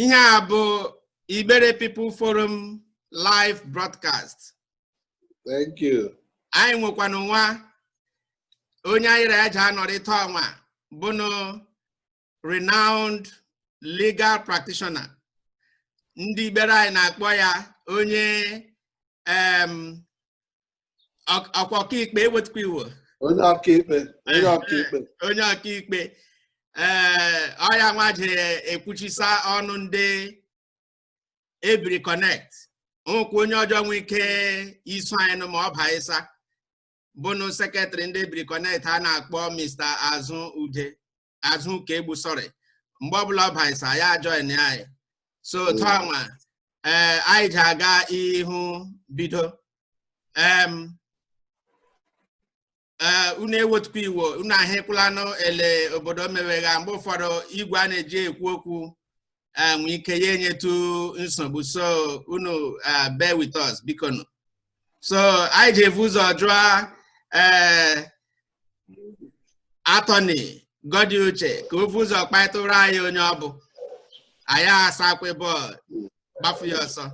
ihe a bụ Igbere People Forum live broadcast thank you anyị nwekwanụ nwa onye anyị ra eji anọrị taa ọnwa bụnụ renowned legal practitioner ndị Igbere anyị na-akpọ ya onye em Ọk- ọka ọkaikpe ewetukwa iwe onye ọkaikpe onye ọkaikpe onye ọkaikpe ee ọya nwa ji ekwuchisa ọnụ ndị ebiri connect o nwekwa onye ọjọ nwee ike iso anyị nụ ma ọ baịsa bụnụ sekretrị ndị ebiri connect a na-akpọ mr azụ ude azụ ụkaegbu sorry mgbe ọbụla ọ baịsa ya join anyị so otu ọnwa ee anyị ji aga ihu bido em ee unu ewetukwa iwe o unu ahịkwụlanụ ele obodo mewegha mgbe ụfọdụ igwe a na-eji ekwu okwu eh, nwee ike ya enyetu nsogbu so unu eh, bear with us biko nụ so anyị ji evu ụzọ jụọ eh, attorney godi uche ka o vu ụzọ kpaịtụrụ anyị onye ọ bụ anyị asakwa bọọlụ gbafu ya ọsọ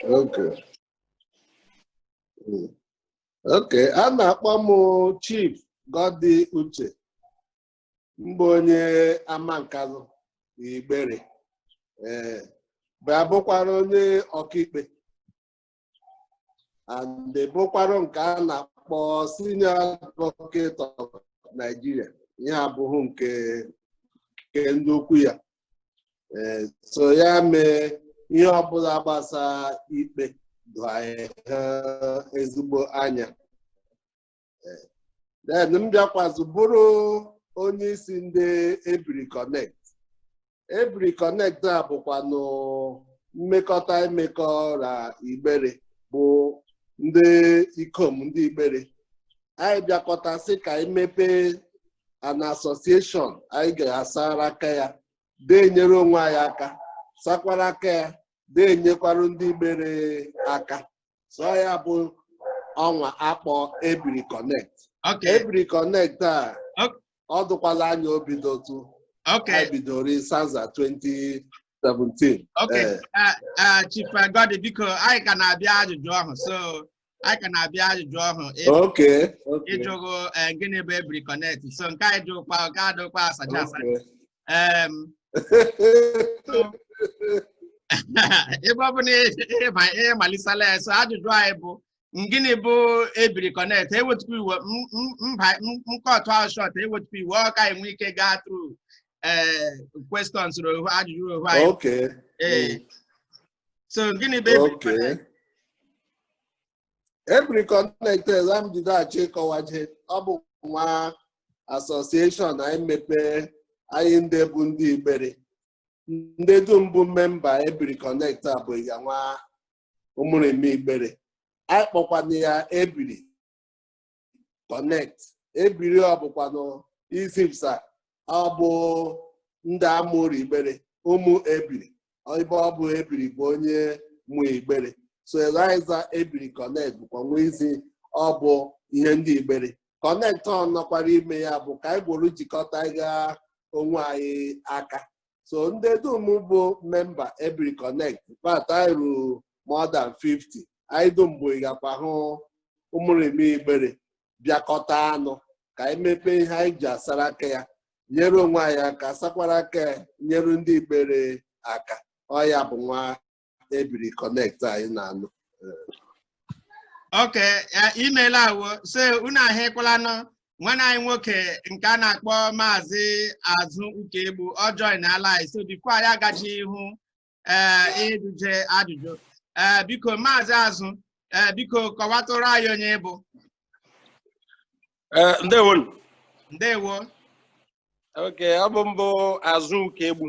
Okay. Mm. Okay, a na-akpọ m Chief Godi Uche. m bụ onye amankalụ igbere ee bịa bụkwara onye ọkaikpe and bụkwara nke a na-akpọ senior advocate of Nigeria ihe abụghị nke nke ndị ukwu ya ee so ya mee ihe ọbụla gbasa ikpe doo ha ezigbo anya Eh, then m bịakwazụ bụrụ onye isi ndị ebiri connect ebiri connect a bụkwanụ mmekọta imekọ na igbere bụ ndị ikom ndị igbere anyị bịakọta sị ka anyị mepee an association anyị ga-asara aka ya de enyere onwe anyị aka sakwara aka ya de enyekwara ndị igbere aka so ya bụ ọnwa a kpọ ebiri connect okay ebiri connect a Ok. ọ dụkwala anya o bidotu okay anyị bidoro sanza 2017 okay Eh. Ah, ah, chief godi biko anyị ka na-abịa ajụjụ ahụ so anyị ka na-abịa ajụjụ ahụ ị- okay okay ịjụghụ eh, gịnị bụ ebiri connect so nke anyị jụkwa nke adụkwa asacha asacha okay um, ebe ọ bụ na ị malisala ya so ajụjụ anyị bụ gịnị bụ ebiri connect ewetukwa iwe mba nkọtụ ahụ short ewetukwa iwe o ka anyị nwee ike gaa through eh, questions ohu ajụjụ ohu anyị eh. hmm. so gịnị bụ ebiri connect Ebiri Connect m jide achọ ịkọwaje ọ bụ nwa association anyị mepee anyị ndị bụ ndị Igbere ndị dum bụ memba Ebiri Connect a bụ ya nwa ụmụrịme Igbere anyị kpọkwana ya Ebiri connect ebiri ọ bụkwa na izipụsa ọ bụ ndị a mụrụ igbere ụmụ ebiri ebe ọ bụ ebiri bụ onye mụ igbere so eliza ebiri connect bụkwa nwa izi ọ bụ ihe ndị igbere connect ọ nọkwara ime ya bụ ka anyị gboro jikọtaga onwe anyị aka so ndị dum bụ memba Ebiri Connect but anyị ruru more than 50 anyị dum bụ ịgakwa hụ ụmụrịme igbere bịakọta ọnụ ka anyị mepee ihe anyị ji asara aka ya nyere onwe anyị aka sakwara aka ya nyere ndị igbere aka ọ ya bụ nwa ebiri connect anyị na-anụ okay imeela awo so unu ahụkwalanụ nwanne anyị nwoke nke a na-akpọ maazị Azụ Ukaegbu ọ joinala anyị so before anyị agaje ihu ee ịjụje ajụjụ ee biko maazị azụ ee biko kọwatụrụ anyị onye ị bụ Eh, ndewo nụ. ndewo okay ọ bụ m bụ Azụ Ukaegbu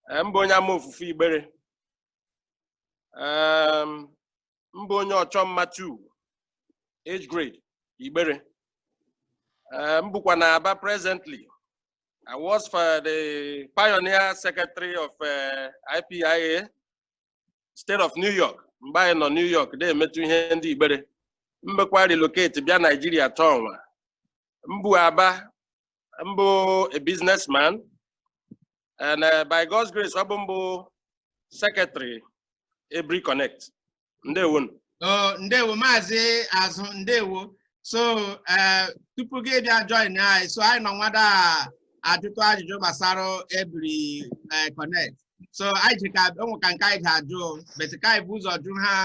Ee, m bụ onye Amaofufe igbere Ee, m bụ onye Ọchọmma 2 age grade igbere Ee, m bukwa na Aba presently I was for the pioneer secretary of uh, IPIA, state of New York. Mgbe anyị nọ New York, na-emetụ ihe ndị Igbere. M bịakwa relocate bịa Nigeria tọọ nwa. M bu Aba, m bụ a businessman, and uh, by God's grace ọ bụ m bụ secretary Ebiri Connect ndewo oh, ndewo maazị azụ ndewo so uh, tupu gị abịa join anyị so anyị nọ nwada ajụtụ ajụjụ gbasara Ebiri uh, Connect so anyị ji ka o nwe ka nke anyị ga-ajụ but ka anyị bu ụzọ jụ ha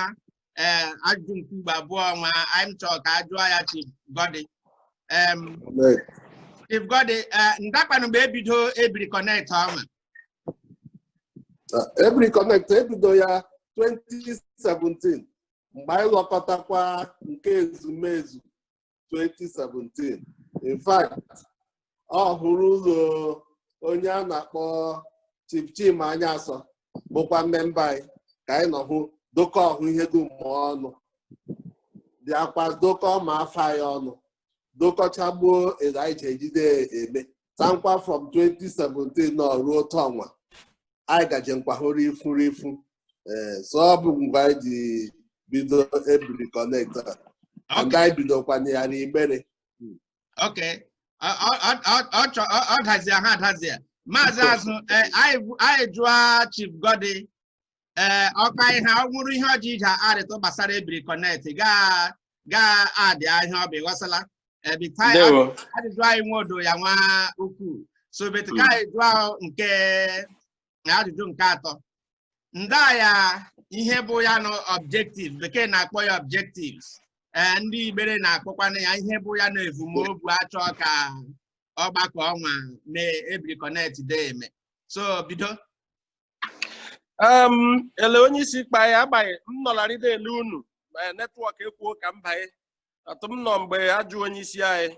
ee ajụjụ nke ugbo abụọ nwa anyị chọrọ ka a jụọ ya Chief Godi Em, Amen. Chief Godi ee ndakwanụ mgbe e bido ebiri connect ọnwa Uh, Ebiri Connect e bido ya 2017 mgbe anyị lọkọtakwa nke ezumezu 2017 in fact ọ hụrụ ụlọ onye a na-akpọ Chief Chima Anyaso bụkwa mmemba anyị ka anyị nọ hụ dokọ ọhụ ihe dum ọnụ bịakwa dokọ ma afa anyị ọnụ dokọchagbuo ele anyị ji ejide eme tankwa from 2017 nọ ruo tọnwa anyị gaje nkwahụrụ ifu ee so ọ bụ mgbe anyị ji bido Ebiri Connect and anyị bidokwana ya n'igbere ok Ọ- ọ- ọ- ọ- ọ chọ- ọ- ọ dazie ha dazie maazị azụ eh, anyị bụ- anyị jụọ chief godi ee ọka ihe ọ nwụrụ ihe ọ jị ije arịtụ gbasara Ebiri Connect gaa gaa adị ahịa ọ bụ ịghọsala ebi taa Ndewo. ajụjụ anyị nwe odo ya nwa ukwuu so betu ka anyị jụọ nke na ajụjụ nke atọ nda ya ihe bụ ya na objective bekee na-akpọ ya objectives ee ndị igbere na-akpọkwana ya ihe bụ ya na evumobu a chọ ka ọgbakọ ọnwa mee ebiri connect de eme so bido um ele onye isi kpa ya agbaghị m nọlarị de ele unu ma network ekwuo ka m banye atụ m nọ mgbe a jụ onye isi anyị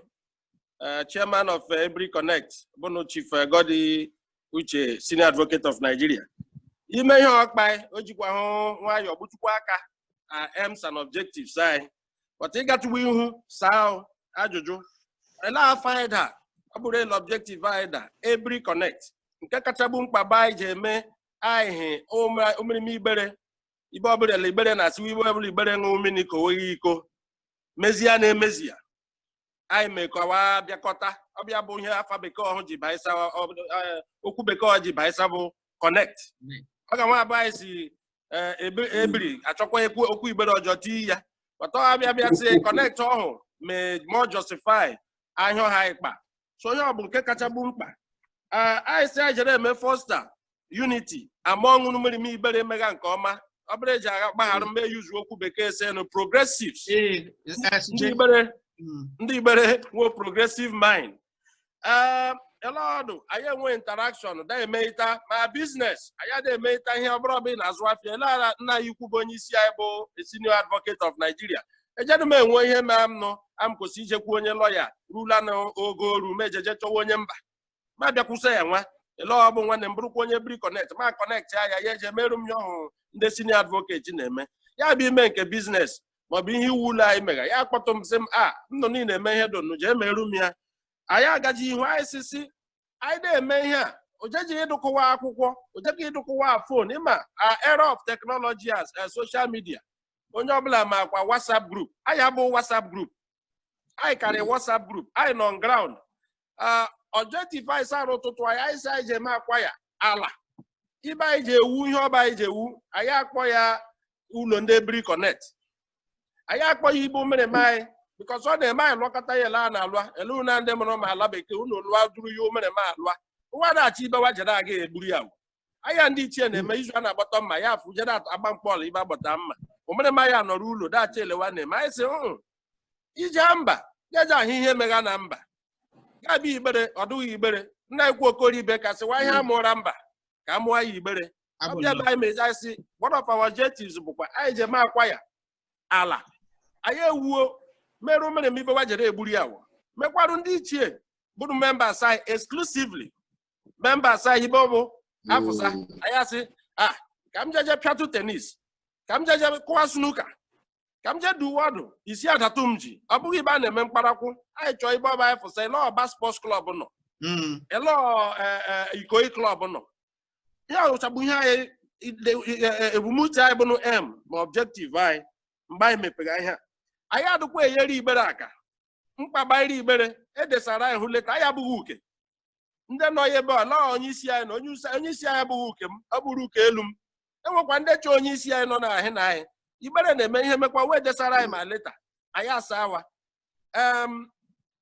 uh, chairman of uh, Ebiri Connect, bụnụ Chief uh, Godi Uche, Senior Advocate of Nigeria. Ime ihe ọ kpa o jikwa hụ nwayọọ gbutukwa aka uh, aims and objectives anyị. But ịgatụwa ihu saa ajụjụ. Ele afa anyị daa, ọ bụrụ ele objective anyị daa, Ebiri Connect. Nke kachagbu mkpa bụ anyị ji eme anyị hị ụmụrịma igbere. Ibe ọbụla ele igbere na-asịwa ibe ọbụla igbere ṅụọ mmiri ka o nweghị iko. Mezie na-emezi ya. anyị mekọwa bịakọta ọ bụ ya bụ ihe afa bekee ọhụ ji baisa okwu bekee ọ ji baisa bụ connect ọ ga nwa abụ anyị sị Ebiri a chọkwa okwu igbere ọjọ tii ya but a bịa bịa sị connect ọhụ mee more justify ihe ọhụ anyị kpa so ọhụ bụ nke kachagbu mkpa anyị sị anyị jere eme foster unity among ụmụrịma Igbere emega nke ọma ọ bụrụ eji agha gbaghara m m use okwu bekee sị nụ progressives ndị igbere hmm. ndị igbere nwe progressive mind ee ele ọ dụ anyị enwe interaction da emeita ma business anyị ada emeita ihe ọ bụrụ ọbụla na-azụ afịa ele ala nna anyị ukwu bụ onye isi anyị bụ senior advocate of Nigeria ejedụ m enwe ihe mere m nụ am kwesị ijekwu onye lawyer rula na ogo oru m ejeje chọwa onye mba ma bịakwusa ya nwa ele ọ bụ nwanne m bụrụkwa onye Ebiri Connect m a-connect ya ya ya eje merụ m ya ọhụrụ ndị senior advocate na-eme ya bụ ime nke business maọbụ ihe iwu ụlọ anyị mega ya akpọtụ m sị m a nnụ niile eme ihe donu jee merụ m ya anyị agaji ihu anyị sisi anyị na-eme ihe a ojeji ịdụkụwa akwụkwọ ojeghị ịdụkụwa phone ị ma a era of technology as a social media onye ọbụla makwa whatsapp group anyị abụ whatsapp group anyị karị WhatsApp group anyị nọ on ground ah, objective anyị sara ụtụtụ anyị anyị sị anyị ji eme acquire ala ibe anyị ji ewu ihe ọba anyị ji ewu anyị akpọ ya ụlọ ndị ebiri connect anyị akpọ ya ibe ụmụrịma anyị because ọ na-eme anyị lụkọta ya ele a na-alụa ele unu ndị mụrụ ma ala bekee unu lụa duru ya ụmụrịma alụa wa na-achọ ibe wa jere aga egburu ya anyị ndị ichie na-eme izu a na-agbata mma ya afụ jere agba mkpọọlụ ibe agbata mma ụmụrịma ya nọrọ ụlọ dacha elewa na-eme anyị sị "Mm, ije mba jeje ahụ ihe megha na mba ya bụ igbere ọ dụghị igbere nna ekwu okoro ibe kasị wa ihe amụra mba ka a mụọ ya igbere ọ bịa be anyị mezi anyị sị one of our objectives bụkwa anyị je ma acquire ala anyị ewuo mere ụmụrịma ibe wa jere egburu ya wụ mekwarụ ndị ichie bụrụ members anyị exclusively members anyị ibe ọ bụ afụsa Mm. anyị asị ah ka m jeje pịatụ tennis ka m jeje kụwa snooker ka m jee duwe ọdụ isi adatụ m ji ọ bụghị ibe a na-eme mkparakwu anyị chọọ ibe ọba anyị fụsa ele Aba Sports Club nọ Mm. ele Ikoyi Club nọ ya ụchabụ ihe anyị ide- e- e- ebumnuche anyị bụnụ m ma objective anyị mgbe anyị mepere ihe a. anyị adịkwa enyere igbere aka mkpagbairi igbere edesara anyị hụ leta anyị abụghị uke ndị nọ ya ebe a na onye isi anyị na onye usa- onye isi anyị abụghị uke m ọ bụrụ uke elu m enwekwa ndị chọ onye isi anyị nọ na ahị na anyị igbere na-eme ihe mekwa wee desara anyị ma leta anyị asaa wa em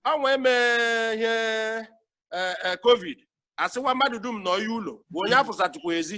ọnwa eme ihe eh, eh, covid asịwa mmadụ dum nọ ya ụlọ bụ onye afụsatụkwa ezi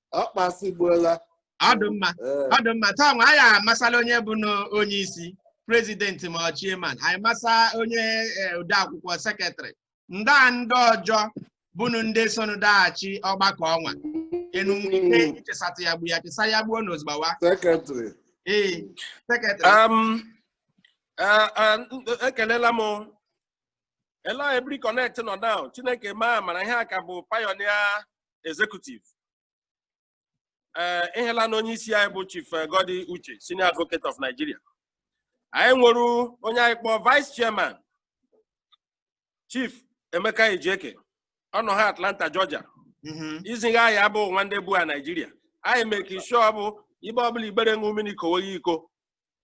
ọ kpasịgbuola ọ dị mma Ee, ọ dị mma taa nwa anyị amasala onye bụ na- onye isi president ma ọ chairman anyị masa onye eh, odeakwụkwọ secretary ndị a ndị ọjọ bụnụ ndị sonụ daghachi ọgbakọ ọnwa enu nwere ike Mm. ichesatụ ya gbu ya chesa ya gbuo na ozugbawa secretary ee secretary Um, uh, uh, ekelela m ele ebiri connect nọ now chineke ma mara ihe a ka bụ pioneer executive ee eh, ihela na onye isi anyị bụ chief eh, Gordy Uche senior advocate of Nigeria anyị nwere onye anyị kpọọ vice chairman chief Emeka Ejeke ọ nọ ha Atlanta Georgia mm-hmm. iziga anyị abụ nwa ndị bu a Nigeria anyị make sure bụ ibe ọbụla igbere ṅụ mmiri kowe ya iko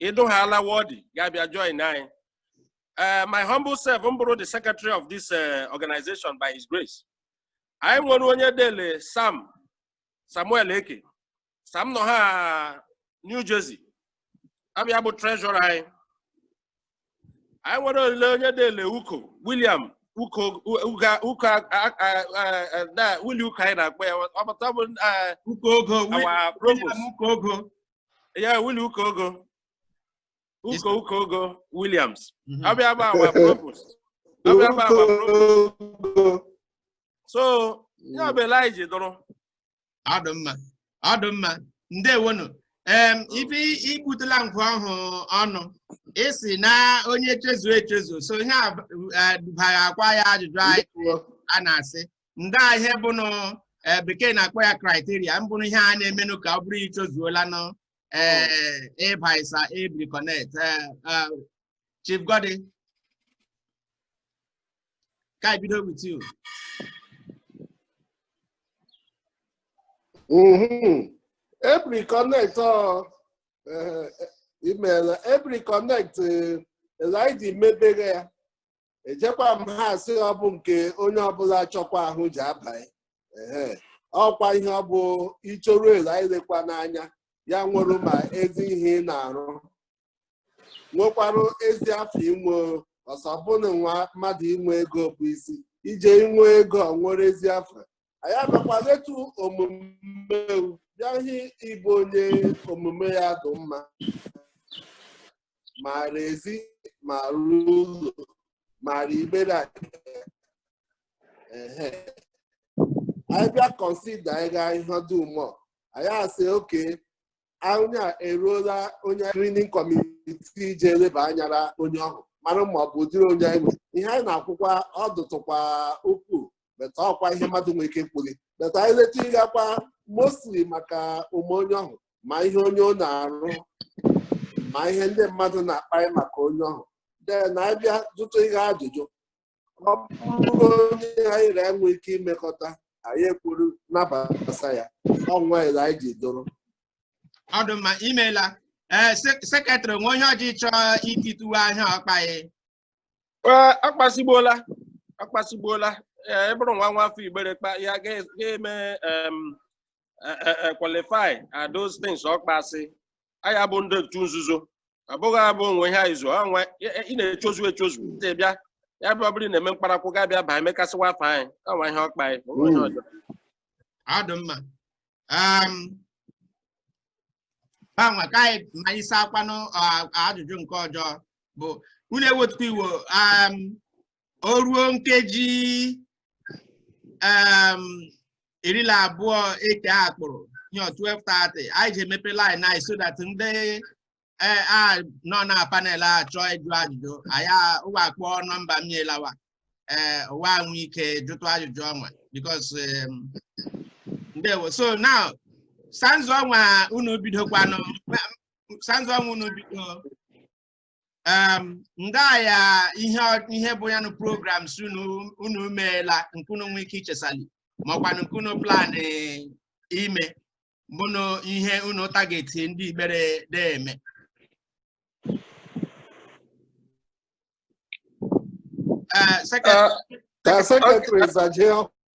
ịdụ ha ala wọdị ga-abịa join anyị eh, my humble self m bụrụ the secretary of this organization by his grace anyị nwere onye dele sam samuel eke sam nọ ha new jersey ọ bụ ya bụ treasurer anyị anyị nwere ole onye dele uko william uko uga uko a- a- a- a- a- na Willie uko anyị na-akpọ ya ọbata bụ eh, Uko Ogo, our provost William Uko Ogo. yeah Willie uko ogo Uko Uko Ugo Williams. Mhm. Abịa bụ our provost. Abịa bụ our provost. So, ya bụ ele anyị ji dọrọ. Ọ dụ mma. Ọ dụ mma. Ndewonu. Em, oh. ife igbutela nkụ ọhụ ọnụ ị sị na onye chezu echezu so ihe a eh, dubaghakwa ya ajụjụ anyị a na-asị ndị ihe bụnụ eh, bekee na-akpọ ya criteria mbụrụ ihe a na-emenụ ka ọ bụrụ i chozuolanụ ee ịba isa Ebiri Connect ee Chief Godi ka anyị bido with you Ebiri Connect ọ imeela Ebiri Connect ele ndị mebere ya ejekwa m ha asị ọ bụ nke onye ọbụla chọkwa ahụ ji abaghị ehe ọkwa ihe ọ bụ i choru ele anyị lekwa n'anya ya nwere ma ezi ihe ị na-arụ nwekwarụ ezi afọ inwe ọsọ bụna nwa mmadụ inwe ego bụ isi ije inwe ego ọ nwere ezi afọ anyị abịakwa letu omume bịa hụ ị bụ onye omume ya dị mma maara ezi maara ụlọ maara Igbere ehe anyị bịa consider anyị gaa ihe dị ụmụ anyị asị okay onye a eruola onye screening committee ji eleba anya ra onye ọhụ mara ma ọ bụ ụdịrị onye anyị nwere ihe anyị na-akwụkwa ọ dụtụkwa ukwuu but ọkwa ihe mmadụ nwere ike kwụlị but anyị leta ịgakwa mostly maka omume onye ọhụ ma ihe onye ọ na-arụ ma ihe ndị mmadụ na-akparị maka onye ọhụ then anyị abịa jụtụ ihe ajụjụ ọ bụrụ onye anyị na enwe ike imekọta anyị ekwuru nabata ya ọnwa ele anyị ji dọrọ ọ dụ mma imeela ee secretary nwe ihe ọjọ ị chọọ itituwe a ihe ọ kpagha Ee, ọ kpasịgbuola ọ kpasịgbuola ee ị bụrụ nwa nwa afọ Igbere kpa ya ga-eme em, eh, eh, eh, qualify are those things ọ kpasị anyị abụ ndị otu nzuzo abụghị abụ o nwe ihe anyị zo ha nwe ị- ị na-echozu echozu ndị bịa ya bụ ọ bụrụ ị na-eme mkparakwụ ga bịa baa emekasịwa afa anyị ọnwa ihe ọ kpagha ọ nwe ihe ọjọ ọ dị mma um, gbanwe ka anyị ma anyị saa akwanụ ah, ajụjụ nke ọjọ bụ unu ewetukwa iwo um, o ruo nkeji em, iri na abụọ eke a kpụrụ nye 12:30 anyị ji emepe line anyị so that ndị eh, a nọ na panel a chọọ ịjụ ajụjụ anyị a- ụwa akpọ nọmba m nyela wa ee ụwa enwe ike jụtụ ajụjụ ọnwa because em, ndewo so now sanzu ọnwa unu bidokwanụ sanzu ọnwa unu bido um, ndị ya ihe ihe bụ ya nụ programs unu unu meela nke unu nwee ike ichesali ma ọkwanụ nke unu plan ime bụnụ ihe unu target ndị Igbere na-eme Eh, second- Ka secretary zajee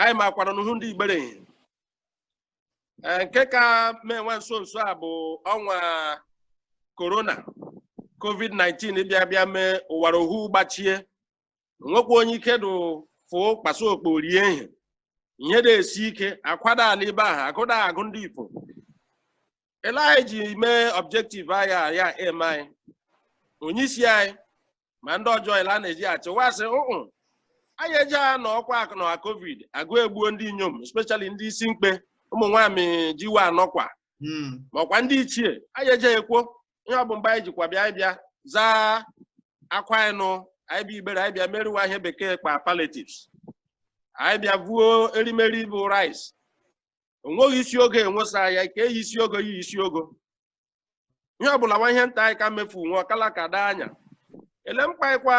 anyị makwara n'uhu ndị Igbere ihe Ee, nke ka mee nwa nso nso a bụ ọnwa corona covid-19 bịa bịa mee ụwara ohu gbachie nwekwa onye ike dụ fụ kpasa okpo rie ihe ihe na-esi ike akwa da ala ibe ahụ agụụ da agụ ndị ifo ele anyị ji mee objective anyị a ya em anyị onye isi anyị ma ndị ọjọ ele a na-eji achịwa asị ụụ anyị eji ha na ọkwa akụ na covid agụụ egbuo ndị inyom especially ndị isi mkpe ụmụ nwaanyị ji wa anọkwa Hmm. makwa ndị ichie anyị eje ekwo ihe ọ bụ mgbe anyị jikwa bịa anyị bịa zaa akwa anyị nụ anyị bịa Igbere anyị bịa meri wa ihe bekee kpa palliatives anyị bịa vuo erimeri bụ rice o nweghị isi ogo enwesa ya kee yi isi ogo yi isi ogo ihe ọbụla nwa ihe nta anyị ka mmefu nwe ọkala ka daa anya ele mkpaịkwa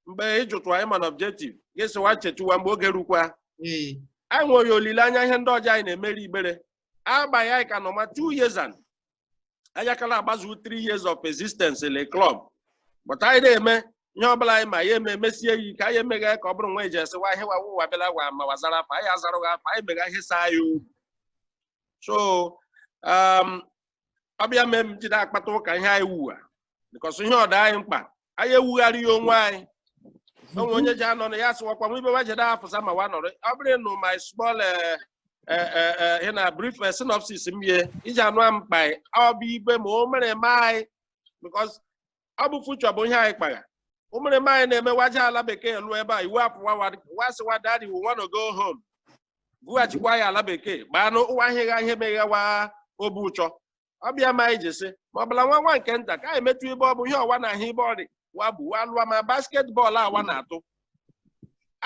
mgbe ịjụtụ anyị mana objective ga-esiwa chetuwa mgbe oge rukwa anyị nweghị olileanya ihe ndị ọjọ anyị na-emeri Igbere agbaghị anyị ka nọ ma two years and anyị akala agbazu three years of existence in a club but anyị na-eme ihe ọbụla anyị ma ya eme mesie yi ka anyị emeghe ka ọ bụrụ nwa eji esi wa ihe wa wụwa bịala wa ma wazara afa anyị azarụghị afa anyị meghe ihe saa anyị obi so um, ọ bụ ya mee m ji da akpata ụka ihe anyị wuwa because ihe ọ da anyị mkpa anyị ewugharị ya onwe anyị o nwe onye ji anọ na ya sịwakwa nwe ibe wa je de afụsa ma wa nọrọ ọ bụrụ nụ my small eh, eh, eh, eh, in a brief eh, synopsis m ye iji anụ a mkpa anyị ọ bụ ibe ma o mere ma anyị because ọ bụ future bụ ihe anyị kpagha o mere ma anyị na-eme wa je ala bekee lụọ ebe a iwu apụ wa wa sịwa daddy we wanna go home bughachikwa ya ala bekee gbanụ ụwa ahịgha ihe megha wa obi ụchọ ọ bụ ya ma anyị ji sị ma ọbụla nwa nwa nke nta ka anyị metụ ibe ọ bụ ihe wa na-ahụ ibe ọ rị wa bụ wa lụwa ma basketball a wa na-atụ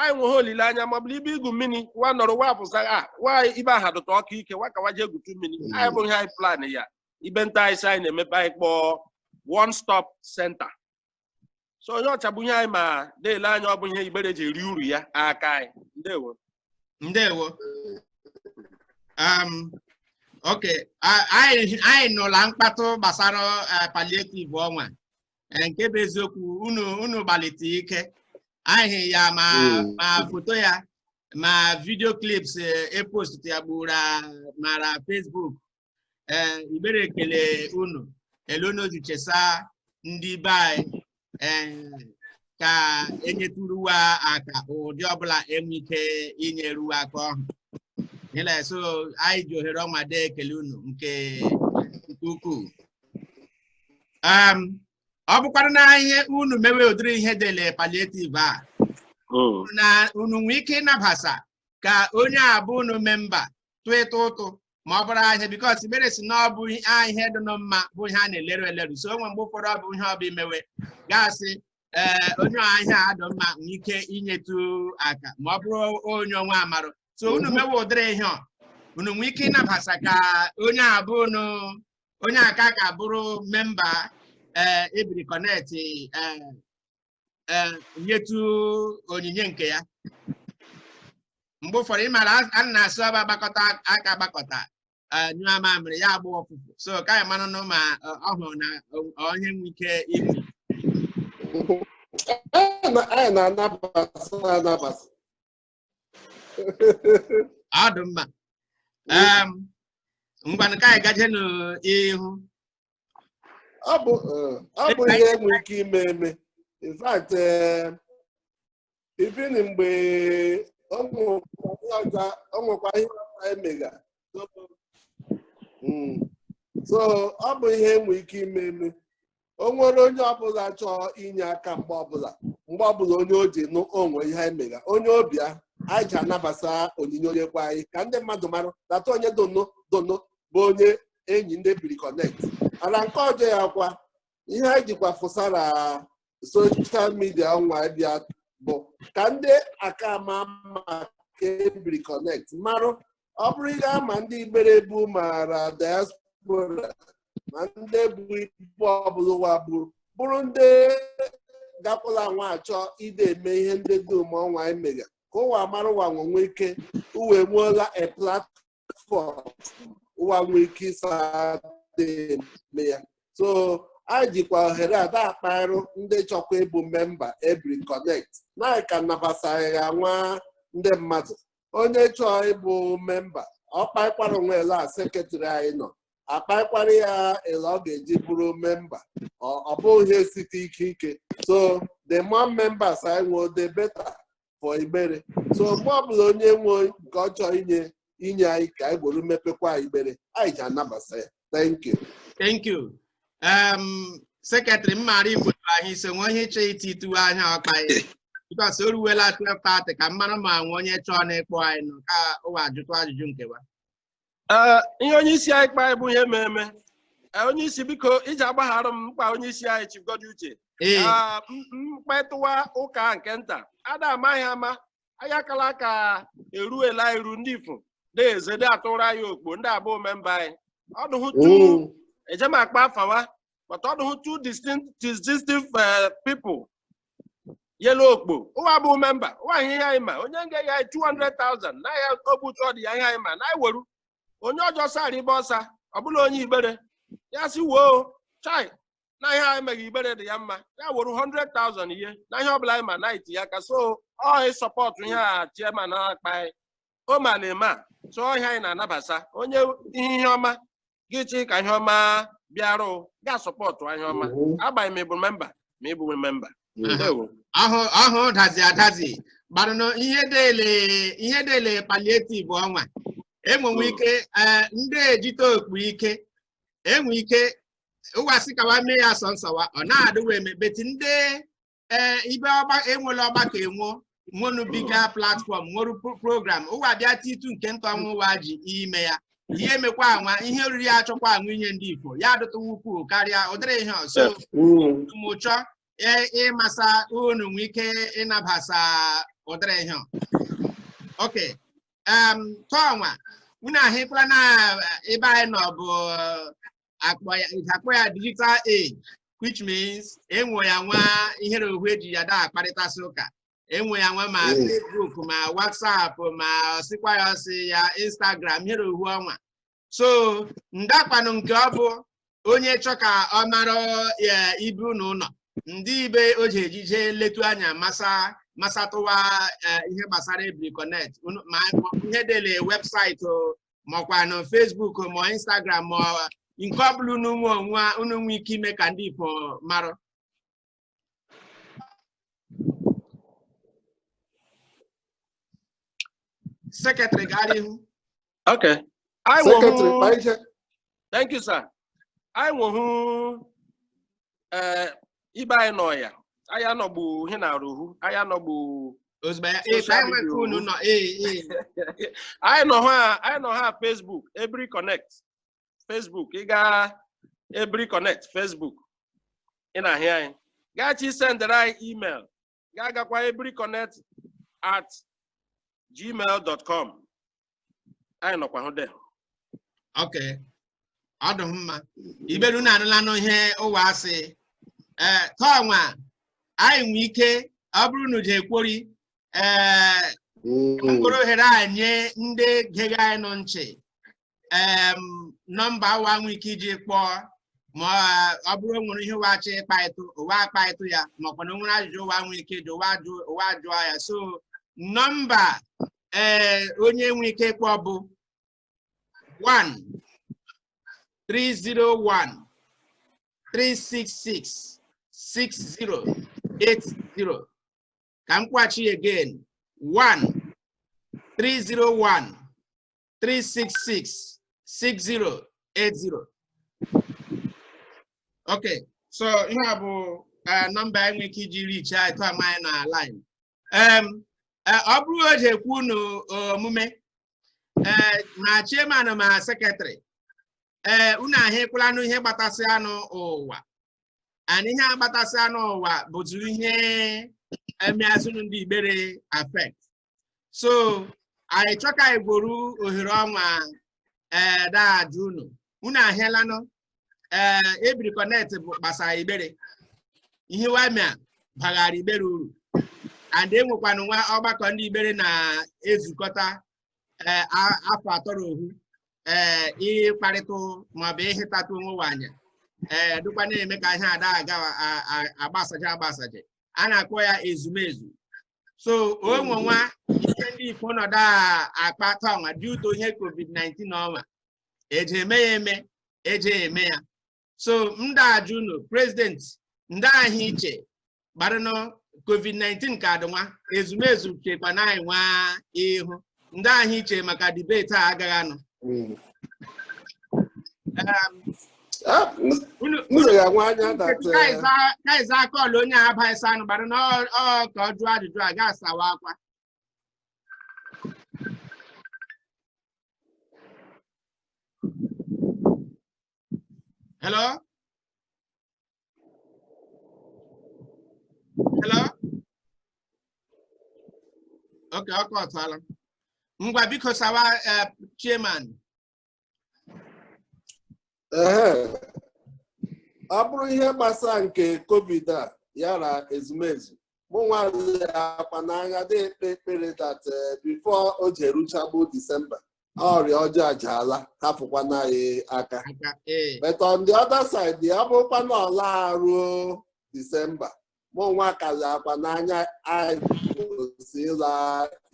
anyị nweghị olileanya ma ọ bụla ibe igwu mmiri wa nọrọ wa pụsa a wa ibe aha dụta ọkụ ike wa ka wa jee gwutu mmiri anyị bụ ihe anyị plan ya ibe nta anyị sị anyị na-emepe anyị kpọọ one stop center so onye ọcha bunye anyị ma dee ele anya ọ bụ ihe Igbere ji eri uru ya aka anyị ndewo ndewo um, ok anyị nụla mkpatụ gbasara eh, palliative ọnwa eh, nke bụ eziokwu unu unu gbalite ike anyị ya ma hmm. ma foto ya ma video clips e post eh, e ya gburu ma ra Facebook ee Igbere ekele unu ele unu si chesa ndị be anyị ee ka e nyeturu wa aka ụdị ọbụla enwe ike inyeru wa aka ọhụ ịla so anyị ji ohere ọnwa dee ekele unu nke nke ukwuu Em, ọ bụkwara na ihe unu mewe ụdịrị ihe dele palliative a na unu nwee ike ịnabasa ka onye abụ unu member tụịta ụtụ ma ọ bụrụ ihe because Igbere sị na ọ bụ ihe dị nụ mma bụ ihe a na-eleru eleru so o nwe mgbe ụfọdụ ọ bụ ihe ọ bụ imewe gasị ee onye ihe a dị mma nwee ike inyetu aka ma ọ bụrụ onye ọnwa amarụ so unu mewe ụdịrị ihe ọ unu nwee ike ịnabasa ka onye a bụ unu onye aka ka bụrụ member ee Ebiri Connect ee ee nyetụ onyinye nke ya mgbe ụfọdụ ị mara a na-asị ọ bụ agbakọta aka agbakọta ee, nyụọ mamịrị ya agbọọ ụfụfụ so ka anyị mara nụ ma ọ ọ hụrụ na ọ ihe enwe ike ime Anyị na- anyị na-anabasa anabasa. ọ dị mma Em, ngwanụ ka anyị gaje n'ihu ọ bụ eh, ọ bụ ihe enwe ike ime eme in fact eh, even mgbe o nwekwa ihe ọzọ- o nwekwa ihe ọzọ emega hmm. so ọ bụ ihe enwe ike ime eme o nwere onye ọbụla chọọ inye aka mgbe ọbụla mgbe ọbụla onye o ji nụ o nwe ihe anyị mega onye ọ bịa anyị ji anabasa onyinye o nyekwa anyị ka ndị mmadụ mara data onye donor donor bụ onye enyi ndị Ebiri Connect ala nke ọjọ ya kwa ihe anyị jikwa fụsa ra social media ọnwa bịa bụ ka ndị aka ama maka Ebiri Connect marụ ọ bụrụ ị ga-ama ndị Igbere bu ma ra diaspora ma ndị bu ibe ọbụla ụwa bụrụ bụrụ ndị gakwụla nwa achọ ide eme ihe ndị dum ọnwa anyị mega ka ụwa mara ụwa nwe nwee ike ụwa nweela a platform ụwa nwee ike ịsa eme ya so anyị jikwa ohere a da-akparụ ndị chọkwa ịbụ memba Ebiri Connect na ka nabasaghị ya nwa ndị mmadụ onye chọọ ịbụ memba ọ kpaịkwara onwe ele a sekretrị anyị nọ akpaịkwara ya ele ọ ga-eji bụrụ memba ọ bụghị ihe site ike ike so the more members anyị nwee the better for Igbere so mgbe ọbụla onye nwe nke ọ chọọ inye inye anyị ka anyị gwere mepekwa Igbere anyị ji anabata ya thank you thank you um sekretrị m maara igbo anyị so nwe ihe ịchọ iti ituwe anya ọkpa ya because o ruwela 12:30 ka m mara ma nwe onye chọọ na ịkpọ anyị n'ụka ụwa ajụtụ ajụjụ nkewa Ee, ihe onye isi anyị kpa bụ ihe mmemme onye isi biko iji agbaghara m m kpa onye isi anyị Chief Goddy Uche ee Ah, m- m kpatụwa ụka nke nta ada amaghị ama anyị akala aka eruela eru ndị ifo na-eze dị atụrụ anyị okpo ndị abụọ memba anyị ọdụhụ two oo eje m akpa afa wa but ọdụhụ two distinct distinctive eh, people yelu okpo ụwa bụ memba ụwa ihe ihe anyị ma onye nga ya 200,000 na ya ogbu chọọ dị ya ihe anyị ma na anyị weru onye ọjọọ sara ibe ọsa ọ bụla onye Igbere ya sị woo chai na ihe anyị meghị Igbere dị ya mma ya were 100,000 ihe na ihe ọbụla anyị ma na iti ya ka so ọ sọpọtụ ihe a chairman na-akpa anyị o ma na eme a so ọhịa anyị na-anabasa onye ihe ọma gị chi ka ihe ọma bịarụ ga sọpọtụ ihe ọma agbanyeghị ma ị bụ memba ma ị bụ memba ndewo ahụ ahụ dazi adazi gbarụnụ ihe dele ihe dele palliative ọnwa enwenwe ike eh, ndị ejite okpu ike enwe ike ụwa sị kawa mee ya sọ nsọwa ọ na-adịwa eme beti ndị ee ibe enwela ọgbakọ enwo nwonu bigger platfọm nwere program ụwa bịa titu nke nta ọnwa ụwa ji ime ya ihe emekwa anwa ihe oriri ya achọkwa anwa inye ndị Igbo ya adụtụwa ukwuu karịa ụdịrị ihe ọzọ mụ chọ ịmasa unu nwee ike ịnabasa ụdịrị ihe ok tọọnwa unu ahụkwala na ebe anyị nọ bụ akpọ ya ị ga-akpọ ya digital age which means enwe ya nwa ihere ohu eji ya da akparịtasị ụka enwe ya nwa ma Yes. Facebook ma WhatsApp ma ọsịkwa ya ọsị ya Instagram ihere ohu ọnwa so ndaakwanụ nke ọ bụ onye chọ ka ọ mara ya ibe unu ụlọ ndị ibe o ji ejije letu anya masa masatụwa eh, ihe gbasara Ebiri Connect unu- ma ihe dele webụsaịtị o, makwa na Facebook ma Instagram ma nke ọ bụla unu nwe ike ime ka ndị ifo mara sekretrị gara ihu okay sekretrị thank you sir anyị nwehụ ee eh, ibe anyị nọ ya anyị anọgbu ihe na arụhu anyị anọgbu anyị nọ ha Facebook Ebiri Connect Facebook ị gaa Ebiri Connect Facebook ị na-ahị anyị ga-achọ isendịrị anyị email ga-agakwa ebiriconnect at gmail dot com anyị nọkwa hụ de ok ọ dị mma Igbere unu anụlanụ ihe ụwa asị ee tọnwa anyị nwee ike ọ bụrụ unu je ekwori ee mkpụrụ ohere a nye ndị gege anyị nụ nchị em, nọmba ụwa nwee ike iji kpọọ ma ọ- ọ bụrụ o nwere ihe ụwa chọ ịkpaịtụ ụwa akpaịtụ ya makwa na o nwere ajụjụ ụwa nwee ike ịjụ ụwa jụọ ya so nọmba ee onye nwee ike ịkpọ bụ 1 301 366 6080 ka m kwuachi again 1 301 366 6080 okay so ihe a bụ eh, nọmba anyị nwere ike iji reach out to ama anyị na line Em, eh, ọ bụrụ o ji ekwu unu omume ee ma chairman ma sekretrị ee unu ahịkwalanụ ihe gbatasị anụ ụwa and ihe a gbatasị anụ ụwa bụtụ ihe emeazụnụ ndị igbere affect so anyị chọka igboru ohere ọnwa ee da-ajụ unu unu ahịalanụ ee ebiri connect bụ gbasara igbere ihe ụwa mea baghara igbere uru and enwekwanụ nwa ọgbakọ ndị igbere na-ezukọta ee a- afọ atọrọ ohu ee ịkparịtụ maọbụ ịhịtatụ onwe ụwa anya ee dịkwa na-eme ka ihe a da-aga a- a- agbasaje agbasaje a na-akpọ ya ezumezu so o nwe nwa ihe ndị ifo nọdụ a- akpa tanwa due to ihe covid-19 ọnwa e je eme ya eme e je eme ya so ndị ajụ unu president ndị ahụ iche gbarịnụ covid-19 ka adịnwa ezumezu chekwa na anyị nwa ihu ndị ahụ iche maka debate agaghị anọ kaiza akọọlụ onye a abaghị sanụ gbara na ọ ka ọ jụọ ajụjụ a ga-asawa akwa hello hello oke ọkụ ọtụọla ngwa biko sawa eh, chairman Ehe. ọ bụrụ ihe gbasara nke covid a yara ezumezu mụ nwazi akwa n'anya dị ekpe ekpere that eh, before o ji eruchagbu december ọrịa ọjọọ ajaala hapụkwanụ anyị aka but on the other side ya bụrụkwa na ọ la eruo december mụ nwa kazi akwa n'anya anyị si ịla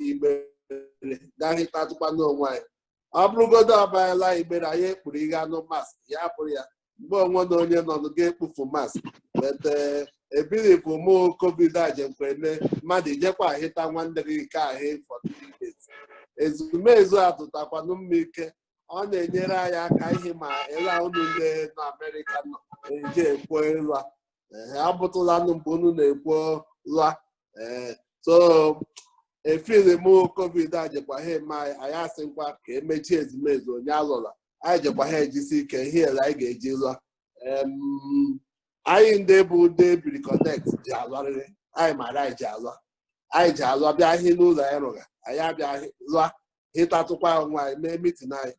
igbere ga hịtatụkwanụ onwe anyị ọ bụrụgodo ọ bụ anyị la igbere anyị ekpuru ihe anụ mask ya bụrụ ya mgbe onwe na onye nọ ga-ekpufu mask but ebiripụ mụ covid a jekweme mmadụ ijekwa ahịta nwanne gị ike ahụ for 3 years ezumezu atụtakwanụ mma ike ọ na-enyere anyị aka ihe ma ịla unu ndị nọ amerịka nọ eji ekwo ịlụa abụtụlanụ mgbe unu na-ekwo lụa ee so efiri m covid a jekwa ha eme anyị asịkwa ka emechie ezumezu onye alụla anyị jekwa ha ejisi ike ihe ele anyị ga-eji lụa Em, anyị ndị bụ ndị ebiri connect ji alụarịrị anyị mara anyị ji alụa anyị ji alụa bịa ihe n'ụlọ anyị rụga anyị abịa hị- lụa hịtatụkwa onwe anyị mee mitin anyị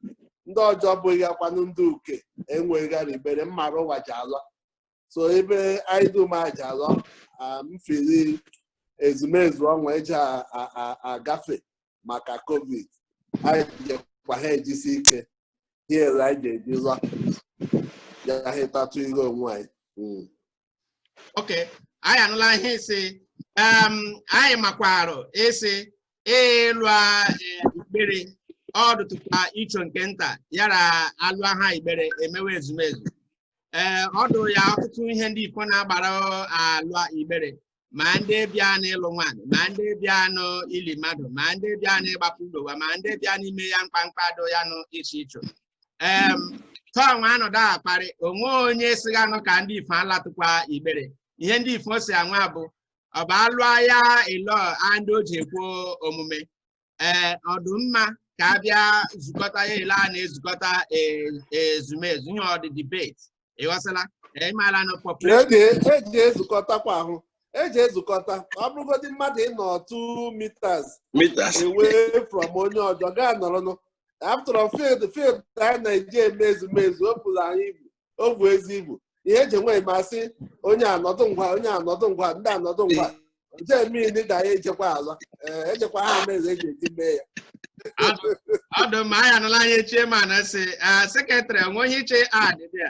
ndị ọjọọ bụghị akwanụ ndị uke enweghị gara igbere mmara ụwa ji alụa so ebe anyị dum aja alụa mfiri ezumezu ọnwa eji agafe maka covid anyị jekwa ha ejisi ike hiere anyị ga-eji zọ ya hịtatụ ihe onwe anyị hmm. ok anyị anụla ihe isi anyị makwarụ isi ịlụa igbere ọ dụtụkwa icho nke nta yara alụa igbere emewe ezumezu ee ọ dụ ya ọtụtụ ihe ndị ifo na-agbara alụa igbere ma ndị bịa n'ịlụ nwaanyị ma ndị bịa n'ili mmadụ ma ndị bịa n'ịgbapụ ụlọ wa ma ndị bịa n'ime ya mkpamkpa do ya nụ iche iche ee tọọ nwa anọdụ akparị onwe onye siga nụ ka ndị ifo alatụkwa igbere ihe ndị ifo si anwa bụ ọ bụ alụa ya ịlọ a ndị o ji ekwu omume ee ọ dụ mma ka a bịa zukọta ya ele a na-ezukọta e- ezumezu ihe ọ dị debate ị ghọsala ee ị maala na population e ji e ji ezukọtakwa ahụ e ji ezukọta ọ bụrụgodị mmadụ ịnọ 2 meters meters away from onye ọjọ gaa nọrọnụ after all, field field anyị na-eji eme ezumezu o buru anyị ibu o bu ezi ibu ihe eji enwe m sị onye anọdụ ngwa onye anọdụ ngwa ndị anọdụ ngwa je mmiri da ya ejekwa ala ee ejekwa ha mere eji eji mee ya ọ dụ mma anyị anụla anyị chairman sị secretary onwe onye iche adị bịa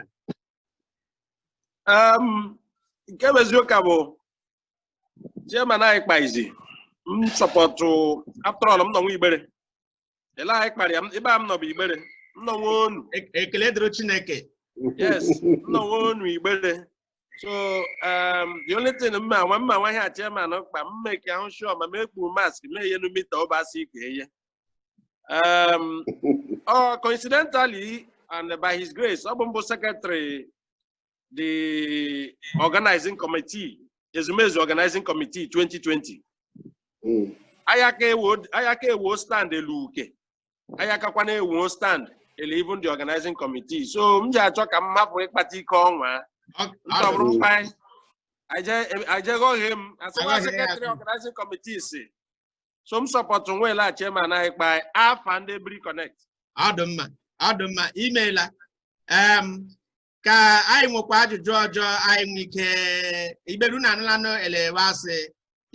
Em, nke bụ eziokwu bụ chairman anyị kpa izi m support after all m nọ nwa Igbere ele anyị kpara ya ebe a m nọ bụ Igbere m nọ nwa onu e-, ekele dịrị Chineke yes m nọ nwa onu Igbere so um, the only thing mma nwa mma nwa ihe a chairman kpa mma eke ahụ sure ma ma ekpu mask ma enyenu meter ọbasi ka eye um, oh, coincidentally and by his grace ọ bụ m bụ secretary the organizing committee, Ezumezu organizing committee 2020. Mm. Anyị aka ewo anyị aka ewo stand eluke. Anyị akakwana ewo stand ele even the organizing committee. So m ji achọ ka m hapụ ịkpata ike ọnwa. Ọ- Nke ọ ọ- bụrụ fine. Ajegọghị m asịwa secretary organizing committee si. So m support nweela chairman anyị kpa afa ndị Ebiri Connect. ọ dị mma ọ dị mma imeela em ka anyị nwekwa ajụjụ ọjọ anyị nwee ike iberu na anụlanụ elewe asị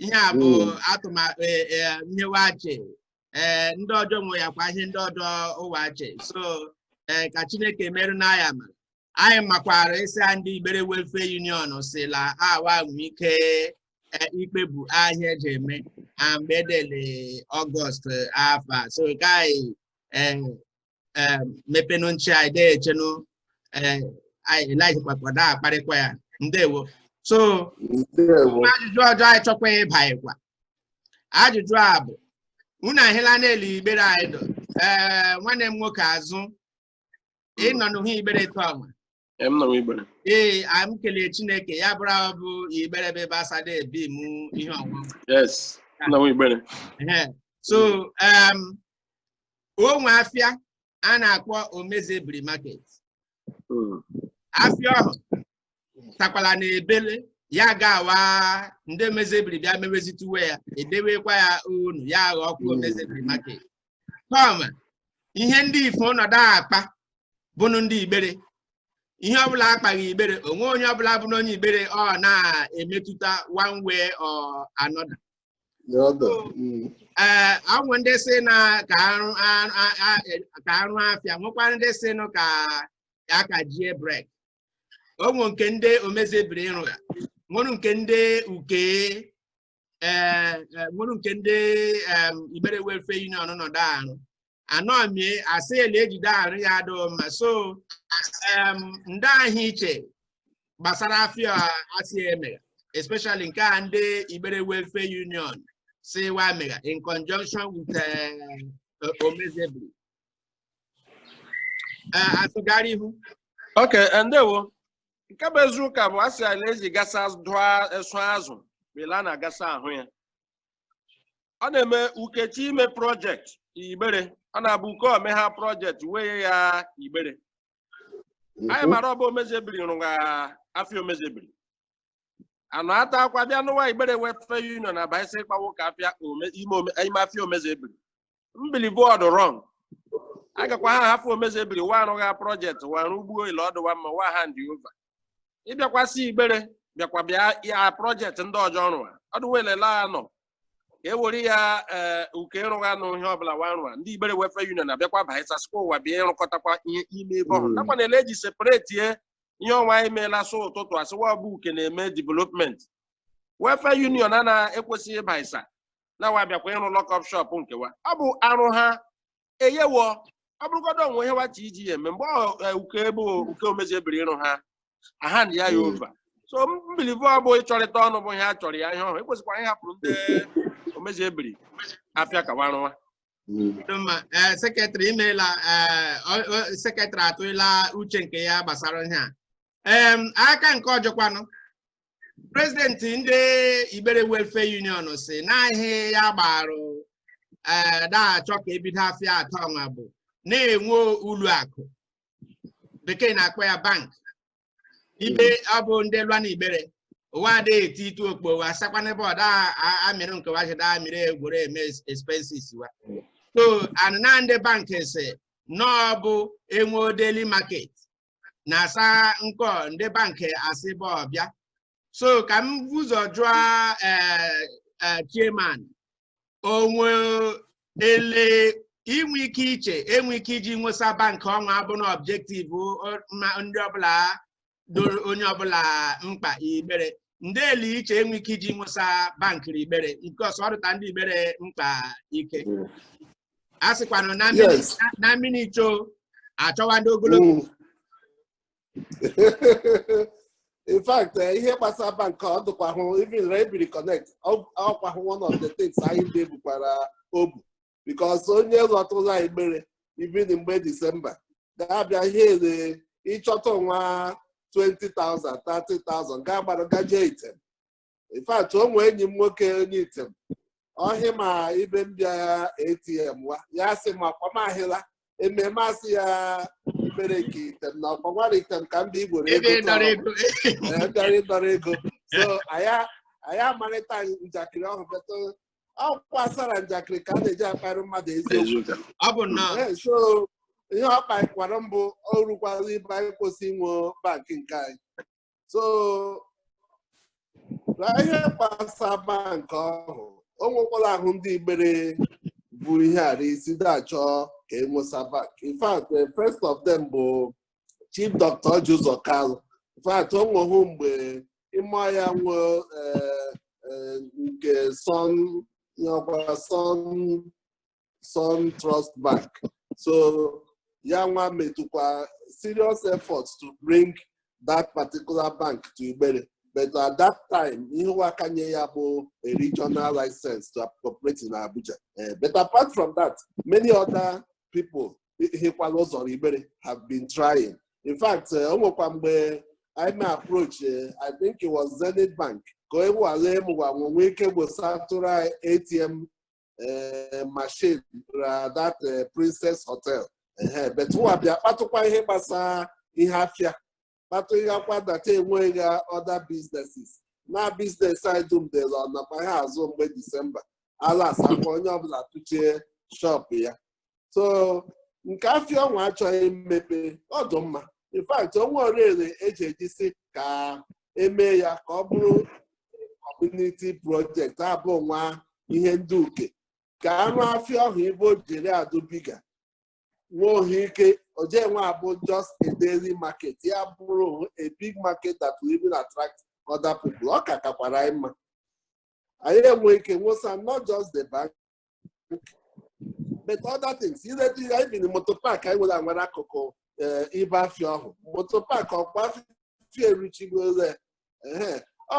ihe a bụ Mm. atụmatụ e, e, ihe wache ee ndị ọjọ nwe ya kwa ihe ndị ọjọ ụwache so ee ka Chineke merụ na ya ma anyị makwara isi ya ndị Igbere Welfare Union si la awa nwee ike e, ikpebu ahịa eji eme na mgbe edele Ọgọst afọ a. so ka anyị ee eh, mepenụ nchị anyị dee echenụ eh, anyị elajikpakwa da akparịkwa ya ndewo so ndewo ma ajụjụ ọjọ anyị chọkwa ịbaịkwa ajụjụ a bụ unu ahịla n'elu Igbere anyị dọ ee nwanne m nwoke Azụ ị nọ n'uhu Igbere taa ọnwa Ee m nọ Igbere. Ee, a m kelee Chineke ya bụrụ ahụ bụ Igbere bụ ebe asada ebi mụ ihe ọṅụṅụ. Yes, nọ Igbere. Ehe. So, um, o nwe afịa a na-akpọ Omezebiri Market. Mm. Afịa ọhụ takwala na ebele ya ga-awa ndị Omezebiri bịa mewezituwe ya edewekwa ya onu ya aghọọkwa Mm. Omezebiri Market. kama ihe ndị ifo nọdụ akpa bụnụ ndị igbere ihe ọbụla akpaghị igbere onwe onye ọbụla bụ n'onye igbere ọ na-emetụta one way or another ee onwe ndị sị na ka arụ arụ- a- a- e- ka arụ afịa nwekwara ndị sị nụ ka aka jie brek onwe nke ndị omezebiri ịrụ ya nwere nke ndị uke ee e, nwere nke ndị Igbere Welfare Union nọdụ arụ anọ mie asị ele ejide arụ ya adụghị mma so ndị ahụ iche gbasara afịa asị emegha especially nke a ndị Igbere Welfare Union sị wa megha in conjunction with eh, eh, Omezebiri eh, asụgara ihu okay ndewo nke bụ eziụka bụ a sị ele eji gasa dụọ esụ azụ bela na gasa ahụ ya ọ na-eme uke chi ime projekti igbere ọ na-abụ uke ome ha projekti wee ya igbere anyị mara ọ bụ omezebiri rụga afịa omezebiri anụ ata akwa bịa nụ wa igbere welfare union abaịsị ịkpawo ka afịa ome- ime ome- ime afịa omezebiri m believe ọ dụ wrong agakwa ha hafụ omezebiri wa arụgha projekti wa arụ ugbuo ile ọ dụwa mma wa hand over ịbịakwasị igbere bịakwa bịa ya projekti ndị ọjọ rụwa ọdụwelela ya nọ ka e were ya ee uke ịrụgha nụ ihe ọbụla wa rụwa ndị igbere welfare union abịakwa baịsasikwa ụwa bịa ịrụkọtakwa ihe ime ebe ọhụrụ Mm. nakwa na ele eji separetie ihe ọnwa anyị meela sụ ụtụtụ asịwa ọbụ uke na-eme development welfare union a na-ekwesịghị ịbaisa na wa bịakwa ịrụ lock-up shop nke wa ọ bụ arụ ha eyewo ọ bụrụgodo onwe ihe wa chi iji ya eme mgbe e, uke ebe uke omezi ebiri ịrụ ha a hand ya ya hmm. over so m believe ọ bụ ịchọrịta ọnụ bụ ihe a chọrọ ya ihe ọhụrụ ekwesịkwara ịhapụrụ ndị omezi ebiri afịa ka wa rụwa e, sekretrị imeela e, sekretrị atụla uche nke ya gbasara ihe a aka nke ọjọkwanụ prezidenti ndị Igbere Welfare Union sị na ihe ya gbarụ ee na-achọ ka ebido afịa atọ ọnwa bụ na-enwe ụlọ akụ bekee na-akpọ ya bank ebe ọ bụ ndị lụa na Igbere ụwa adịghị eti itu okpo wa sakwa n'ebe ọ daa amịrị nke wa jide amịrị egwere eme expenses wa so anụ na ndị bank sị n'ọ bụ enwe daily market na-asa nkọ ndị bankị asị bụ ọbịa so ka m vu ụzọ jụọ eh, eh, chairman onwe ele inwe ike iche enwe ike iji nwesa bankị ọnwa abụ na objective ndị ọbụla dụ onye ọbụla mkpa Igbere ndị ele iche enwe ike iji nwesa bankị rị Igbere because ọ dụta ndị Igbere mkpa ike a sịkwanụ na mmiri Yes. na- na mmiri icho achọwa ndị ogologo Mm. in fact eh, ihe gbasara bank ọ dụkwahụ even Ebiri Connect ọ- ọkwahụ one of the things anyị de ebukwara obu because onye lọtụla Igbere even mgbe disemba ga-abịa ihe ele ịchọta nwa 20,000 30,000 ga-agbara gaje Item in fact o nwee enyi m nwoke onye Item ọhị ma ibe m bịa ATM wa ya sị ma kpamahịla ememe asị ya mere nke Item na ọkpọnwara Item ka m bịa Igbere ego ịdọrọ tọrọ. ego Ee, ndọrọ ịdọrọ ego so anyị anyị amarịta njakịrị ọhụ but ọkwa asara njakịrị ka a na-eji akparị mmadụ eziokwu Eziokwu. ọ bụ nnọọ Ee, so ihe ọ kpakwara m bụ o rukwala ibe anyị kwesị inwe bankị nke anyị so ra ihe gbasa bankị ọhụ o nwekwara ahụ ndị Igbere bu ihe a ra isi na-achọ ka enwesa bank in fact the first of them bụ Chief Dr Orji Uzor Kalu in fact o nweghụ mgbe ịma ya nwe eh, eh, nke Sun nyakwa Sun Sun Trust Bank so ya nwa metụkwa serious efforts to bring that particular bank to Igbere but at that time ihe ụwa akanye ya bụ a regional license to operate in Abuja Eh, but apart from that many other people hikwala ụzọ Igbere have been trying in fact eh, o nwekwa mgbe anyị mee approach eh, I think it was Zenith Bank ka a nwale ma ụwa nwe ike gbosatụrụ anyị ATM eh, machine ra that eh, Princess Hotel Ehe, but ụwa bịa kpatụkwa ihe gbasara ihe afịa kpatụghịakwa that enweghị ha other businesses na business anyị dum dịla ọnakwa ha azụ mgbe disemba alasakwa onye ọbụla tụchie shop ya so nke afịa ọnwa achọ imepe ọ dụ mma in fact o nwe orere eji ejisi ka eme ya ka ọ bụrụ community project abụ nwa ihe ndị uke ka anụ afịa ọhụ ibe o jiri adụbiga nwe ohi ike oje nwe abụ just a daily market ya bụrụ a big market that will even attract other people ọ ka kakwara anyị mma anyị enwe ike nwesa not just the bank but other things ileta even moto park anyị nwere nwere akụkụ ibe afịa ọhụ moto park ọkwa afịa erichigole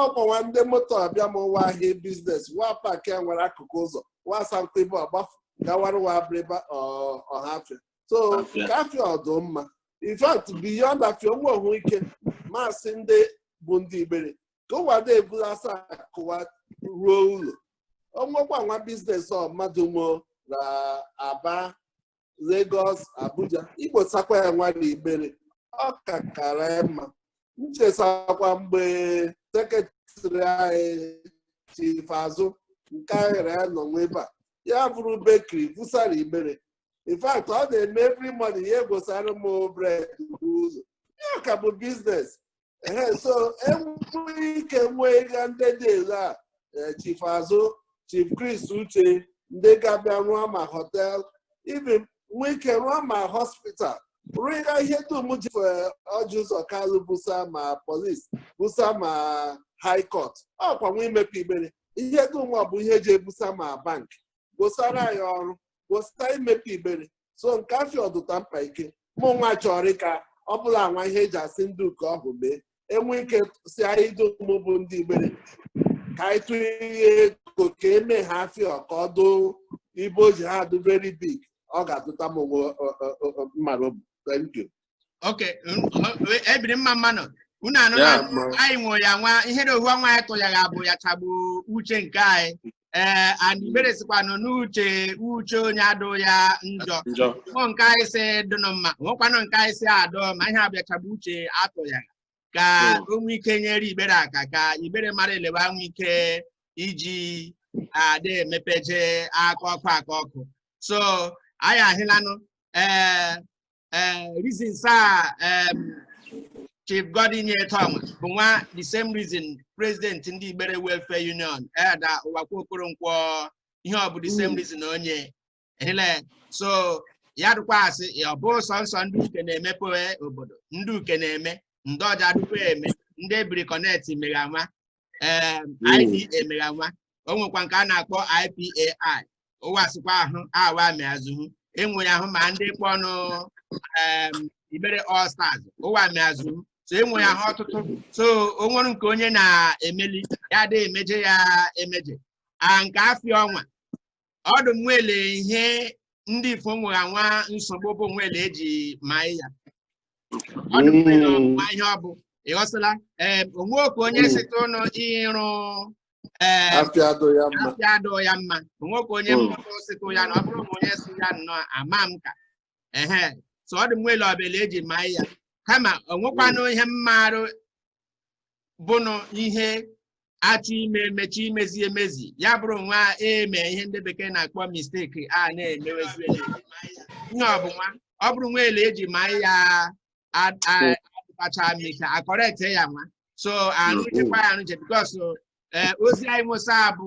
ọkwa nwa ndị moto abịa m ụwa ahịa biznes wa paakịa nwere akụkụ ụzọ wa asankụ ibe ọgbafu gawara wa Abịrịba Ọhafịa so nke afịa ọ dụ mma in fact beyond afịa onwe ọhụ ike masị ndị bụ ndị Igbere ka ụwa na-ebula asa akụ wa ruo ụlọ o nwekwa nwa biznes ọ mmadụ mo na Aba Lagos Abuja igbosakwa ya nwa na Igbere ọ ka kara ya mma nchesakwa mgbe sekretrị anyị Chief Azụ nke ahịrị ya nọ nwa ebe a ya buru bekiri busara Igbere in fact ọ na-eme every morning ya egosara m bred ụzọ ya ka bụ biznes so enwe ike nwee ịga ndị dị elu a eh, Chief Azụ Chief Chris Uche ndị ga-abịa rụọ ma họtel even nwee ike rụọ ma hospital rụọ ya ihe dum ji eh, Ọjị Ụzọ Kalụ busa ma polis busa ma high court ọkwa nwa imepe Igbere ihe dum ọ bụ ihe ji ebusa ma bank gbosara ya ọrụ gbosara imepe Igbere so nke afịa ọ dụta mkpa ike mụ nwa chọrọ ka ọ bụla nwa ihe eji asị ndị uke ọhụ mee enwe ike sị anyị dum bụ ndị Igbere ka anyị tụnye ihe ego ka eme ha afịa ka ọ dụ ibe o ji ha adụ very big ọ ga-adụta mụ nwa mma n'obu thank you okay Ebiri mma mma nụ unu anụla Yeah, ma- anyị nwe ya nwa ihere ohu ọnwa anyị tụnyere abụ ya chagbu uche nke anyị ee and Igbere sikwanụ n'uche uche onye adụ ya njọ o nwe nke anyị sị dụnụ mma nwekwanụ nke anyị sị adụ mma ihe abụ ya chagbu uche atụ ya ka Mm. o nwee ike nyere Igbere aka ka Igbere mara ele wa nwe ike iji adị emepeje aka ọkụ aka ọkụ so anyị ahịlanụ ee eh, reasons a em, Chief Godwin nyeta ọnwa bụ nwa the same reason president ndị Igbere Welfare Union Elder Uwakwe Okoronkwo ihe ọ bụ the same reason onye hile so ya dụkwa asị ya ọ bụ sọnsọ ndị uke na-emepe obodo ndị uke na-eme ndị ọja dụkwa eme ndị Ebiri Connect megha nwa ee IPA megha nwa o nwekwa nke a na-akpọ IPAI ụwa sịkwa ahụ awa meazụhụ enwere ahụ ma ndị kpọ ọnụ em, Igbere All Stars ụwa meazụhụ so enwere ahụ ọtụtụ so o nwere nke onye na-emeli ya adịghị emeje ya emeje a nke afịa ọnwa ọdụ nwele ihe ndị ifo nwere nwa nsogbu bụ nwele eji ma ya ọdụ nwele Mm. ọmụma ihe ọ bụ ịghọsịla ee o nwe nke onye Mm. site ụnụ ịrụ ee afịa adụ ya mma afịa adụ ya mma o nwe nke onye Mm. mmụta osịtụ ya na ọ bụrụ ma onye si ya nnọọ ama m ka ehe so ọdụ nwele ọ bụla eji ma ya kama o nwekwanụ ihe mmarụ bụnụ ihe achọ ime emechi imezi emezi ya bụrụ nwa eme ihe ndị bekee na-akpọ mistake a na-emewezi ihe ọbụnwa ọ bụrụ nwa ele eji ma ya adịbacha m ike a correct ya nwa so arụchekwa ya arụche because ozi anyị nwosa bụ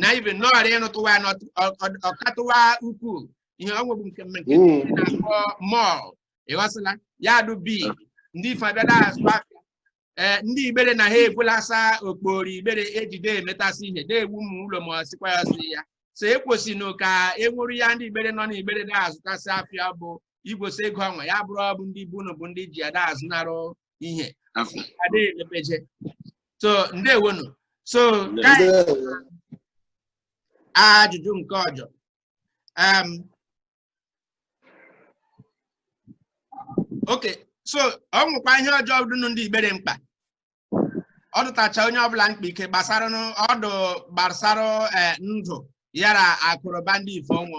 na ibe nọọrọ ịrụtụwa ya n'ọtụ- ọ- ọ- ọkatụwa ukwuu ihe ọ nwebụ nke nke Mm. ndị na-akpọ mall ịghọsịla ya dụ big ndị ife abịa da azụ afịa ee ndị igbere na ha ebulasa okporo igbere ejide emetasị ihe na-ewu ụmụ ụlọ ma ọ sịkwa ya sị ya so ekwesịnụ ka e nwere ya ndị igbere nọ n'igbere na-azụtasị afịa bụ igwesi ego ọnwa ya bụrụ ọ bụ ndị bunu bụ ndị ji ada azụnarụ ihe adịghị emepeje so ndewo nu so ka ajụjụ nke ọjọ um, okay so ọ nwekwa ihe ọjọ dụnụ ndị igbere mkpa ọ dụtacha onye ọbụla mkpa ike gbasara ọdụ gbasara eh, ndụ yara akụrụba ndị ife ọnwụ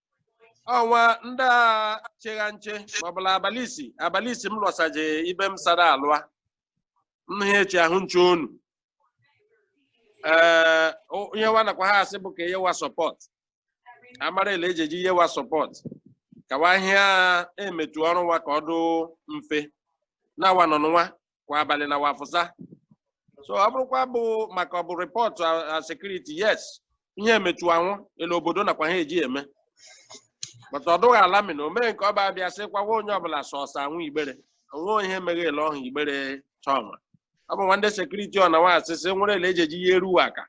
ọnwa ndị a chegha nche ma ọ bụla abalị isi abalị isi m lọsaje ibe m sara alụa nna ya echi ahụ nche onu ee o- ihe wa nakwa ha asị bụ ka eyewa support amara ele eji eji iyewa support ka wa hịa emetu ọrụ nwa ka ọ dụ mfe na wa nọ n'nwa kwa abalị na wa fụsa so ọ bụrụkwa bụ maka ọ bụ report security yes ihe emechu anwụ elu obodo nakwa ha eji eme but ọ dụghị alarming omee nke ọba abịa sị kwawa onye ọbụla sọsọ anwụ igbere onwe ihe meghele ọhụ igbere chọma ọ bụ nwa nde security ọ na nwa asịsị nwere ele eji eji iyeru wa aka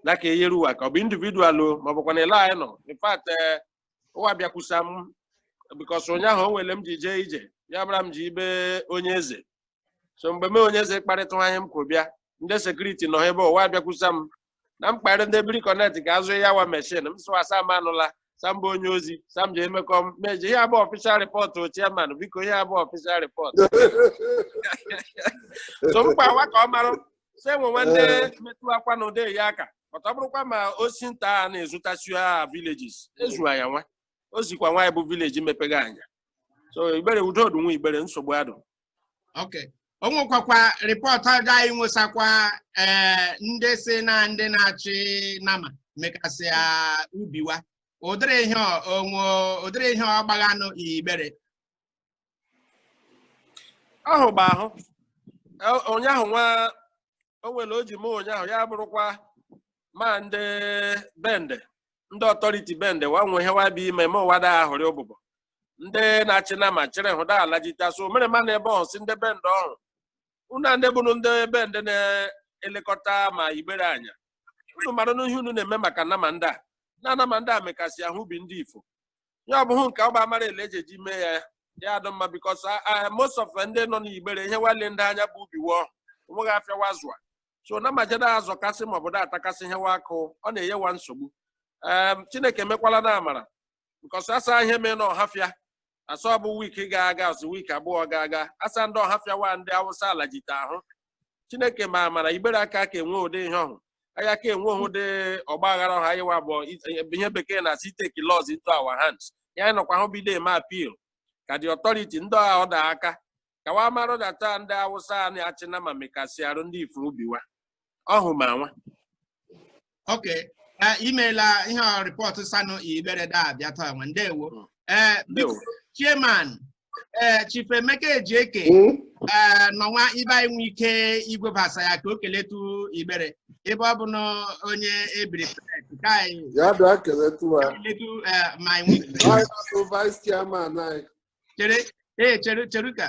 ya ka eyeru wa aka ọ bụ individual o ma ọ bụkwa na ele anyị nọ in fact eh, ụwa bịakwusa m because ụnyaahụ o nwe ele m ji jee ije ya bụrụ m ji ibe onye eze so mgbe m onye eze kparịta ihe m kwuru bịa ndị security nọ ebe ụwa bịakwusa m na m kparị ndị Ebiri Connect ka azụ ya wa machine m sụwa sam anụla sam bụ onye ozi sam ji emekọ m meji ihe abụ official report chairman biko ihe abụ official report so mkpa awa ka ọ mara se nwe nwa nde eh. metụ akwa na ụdị ya aka but ọ bụrụkwa ma osi nta a na-ezụtasi ha villages ezuwa ya nwa o zikwa nwaanyị bụ village mepega anya so igbere udo dị nwa igbere nsogbu adụ okay o nwekwakwa report ọjọ anyị nwesakwa eh, ndị si na ndị na-achị nama mekasị ubi wa ụdịrị ihe onwe ụdịrị ihe ọgbaghanụ igbere ahụ bụ ahụ E- ụnyaahụ nwa o nwere o ji mee ụnyaahụ ya bụrụkwa ma ndị bende ndị authority bende wa nwe ihe wa bụ ime ma ụwa da ahụrị ụbụbọ ndị na-achị nama chịrị hụ da alajita so mere ma na ebe ọhụ si ndị bende ọhụ unu a ndị bụrụ ndị bende na-elekọta ma igbere anya unu maranụ ihe unu na-eme maka nama ndị a na nama ndị a mekasị ahụ ubi ndị ifo ya ọ bụghị nke ọ bụ a mara ele eji eji mee ya ya adụ mma because most of ndị nọ n'igbere ihe wa le ndị anya bụ ubi wụọ onweghị afịa wa zụa so nama je da azọkasị ma ọ bụ da atakasị ihe wa kụ ọ na-enye wa nsogbu em chineke mekwala na amara because asa ihe mee na ọhafịa asa ọ bụ wiki ga-aga ọsụ wiki abụọ ga-aga asa ndị ọhafịa wa ndị awụsa ala jite ahụ chineke ma amara igbere aka ka enwe ụdị ihe ọhụ anyị aka enwe ụdị ọgba aghara ọhụ anyị wa bụ ihe bekee na-asị take laws into our hands ya anyị nọkwa hụ bido eme appeal ka the authority ndị ọha ọ da aka ka wa mara data ndị awụsa a na-achị nama mekasị arụ ndị ifuru ubi wa ọhụ ma nwa ok Eh, imeela ihe ọ rịpọtụ sanụ igbere da abịa taa nwa ndewo Mm. Eh, biko Ndewo. chairman eh, chief emeka ejieke Mm. eh, nọnwa ibe anyị nwe ike igwebasa ya ka o keletu igbere ebe ọ bụ na onye ebiri connect ka anyị ya bịa keletụ ha keletu eh, ma anyị nwe ike. Anyị na-atụ vice chairman anyị chere ee chere chere ka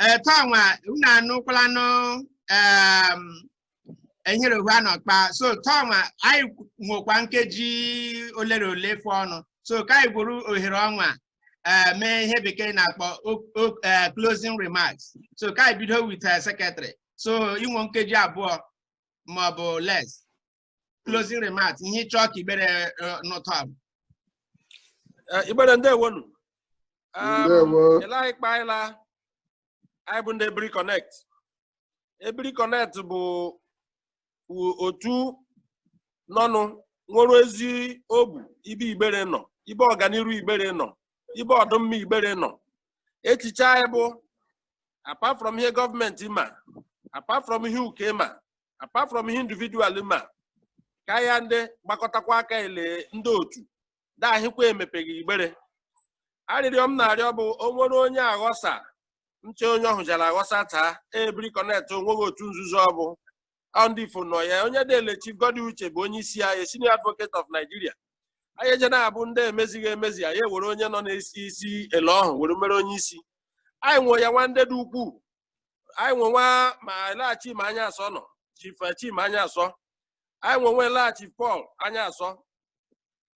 ee tọnwa unu anụkwala nụ em, enyere ohu a n'ọkpa so tọnwa anyị nwekwa nkeji olere ole fọọnụ so ka anyị gwuru ohere ọnwa eh, mee ihe bekee na-akpọ o- o- eh, closing remarks so ka anyị bido with eh, secretary so i nwe nkeji abụọ maọbụ less closing remarks ihe ị chọ ka igbere eh, nụtụ abụ Eh, igbere ndewonu Um, Ndewo. Ele anyị kpaịla, anyị bụ ndị Ebiri Connect. Ebiri Connect bụ u- otu nọnụ nwere ezi obu ibe igbere nọ, ibe ọganiru igbere nọ, ibe ọdụmma igbere nọ. Echiche anyị bụ apart from ihe gọọmenti ma, apart from ihe uke ma, apart from ihe individual ma ka anyị ndị gbakọtakwa aka ele ndị otu dahịkwa emepeghị igbere arịrịọ m na-arịọ bụ o nwere onye aghọsa nche onye ọhụ jara aghọsa taa ebiri connect onweghị otu nzuzo ọ bụ ndị ifo nọ ya onye dele Chief Goddy Uche bụ onye isi anyị senior advocate of Nigeria anyị eje na-abụ ndị emezighị emezi anyị ewere onye nọ n'isi isi ele ọhụ were mere onye isi anyị nwe ya nwa ndị dị ukwuu anyị nwe nwa ma lagha Chima Anyasọ nọ Chief eh, Chima Anyasọ anyị nwe nwe lagha Chief Paul Anyasọ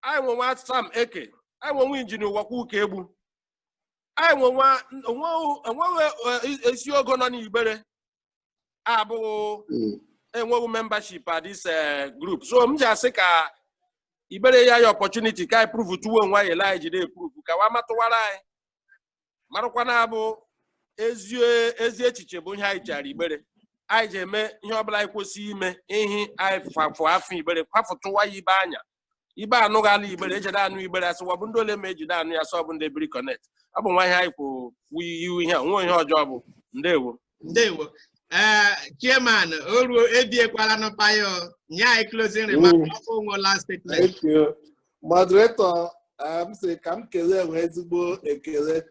anyị nwe nwa Sam Eke anyị nwe nwa injinia Uwakwa Ukaegbu anyị nwe nwa enweghị- enweghị eh, esi ogo nọ n'Igbere abụghị enweghị membership at this eh, group so m ji asị ka Igbere ya ya opportunity ka anyị prove tuwo onwe anyị anyị jide prove ka wa matụwara anyị marakwa na abụ ezi echiche bụ ihe anyị jara Igbere anyị ji eme ihe ọbụla anyị kwesị ime ihe anyị fafụ afọ igbere kwafụtụwa ya ibe anya ibe anụ ga ala igbere ejide anụ igbere asịwa bụ ndị ole ma ejide anụ ya sọ bụ ndị Ebiri Connect ọ bụ nwa ihe anyị kwụ iwu ihe a onwe ihe ọjọọ bụ ndewo ndewo ee chairman o ruo ebiekwala n'ụpa ya o. nye anyị closing remark Mm. ọkụ nwe last statement Thank you. Moderator, eh, m sị ka m kelee enwe ezigbo ekele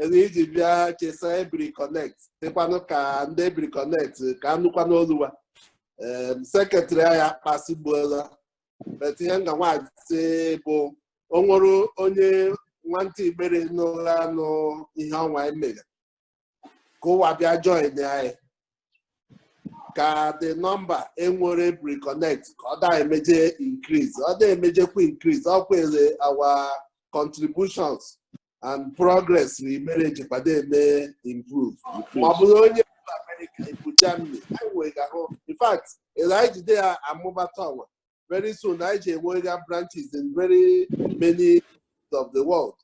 elu iji bịa chesa Ebiri Connect dịkwanụ ka ndị Ebiri Connect ka anụkwa n'oluwa sekretrị anyị akpasigbuola but ihe m ga nwa asị bụ o nwere onye nwantị Igbere nọgha anụ ihe ọnwa anyị meghe ka ụwa bịa join anyị ka the number enwere Ebiri Connect ka ọ da emeje increase ọ da emejekwa increase ọ kwere our contributions and progress na Igbere jikwado eme improve ma ọ bụrụ onye bu America ibu Germany anyị nwere ga-ahụ in fact ele anyị jide ya amụbata ọnwa very soon anyị ji enwega branches in very many of the world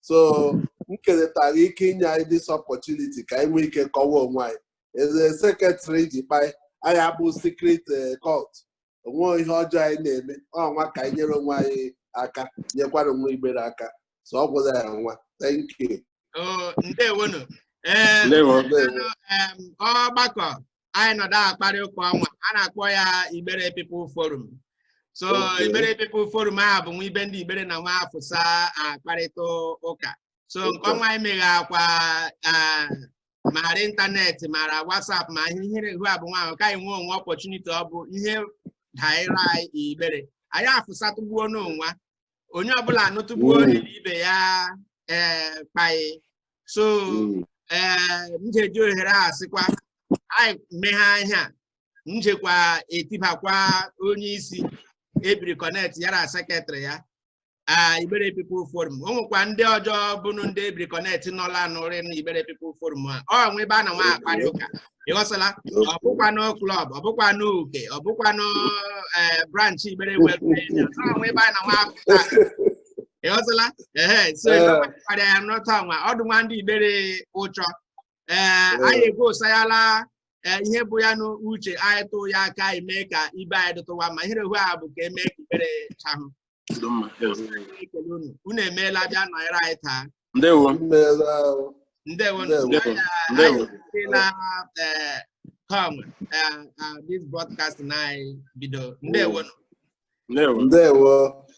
so m keletara ike inye anyị this opportunity ka anyị nwee ike kọwa onwe anyị eze sekretrị ji kpai anyị abụ secret eh, cult onwe ihe ọjọọ anyị na-eme ọnwa ka anyị nyere onwe anyị aka nyekwara nwa Igbere aka so ọ gwụla ya nwa thank you ndewonu ọgbakọ anyị nọdụ akparị ụka ọnwa a na-akpọ ya Igbere People Forum so Okay. Igbere People Forum a bụ nwa ibe ndị Igbere na nwa afụsa akparịta ụka so nke Okay. ọnwa anyị meghe akwa ah, mara ịntanetị mara WhatsApp ma ihe ihu a bụ nwa ahụ ka anyị nwee onwe opportunity ọ bụ ihe daịra anyị Igbere anyị afụsatụgbuo n'onwa onye ọbụla anụtụgbuo mm. onye na ibe ya ee eh, kpaị so mm. ee eh, m ga-eji ohere a sịkwa anyị meghe ihe a m jekwa etibakwa onye isi Ebiri Connect yara sekretrị ya Igbere People Forum o nwekwa ndị ọjọọ bụnụ ndị Ebiri Connect nọla anụrị na Igbere People Forum a ọ nwe ebe a na nwa akparị ụka ịghọsala ọ bụkwanụ klọb ọ bụkwanụ uke ọ bụkwanụ eh, branch Igbere welfare ọ nwe ebe a na nwa apụta ịghọsala ehe so Eh. ịkparịa ya n'ọta nwa ọdụ nwa ndị Igbere ụchọ ee Eh. anyị egosayala eh, ihe bụ ya n'uche anyị tụ ya aka ime ka ibe anyị dụtụwa ma ihere hụ a bụ ka e mee ka Igbere chahụ unu emeela bịa nọnyere anyị taa ndewo ndewo na eh, com eh, ah, this broadcast na anyị bido ndewo ndewo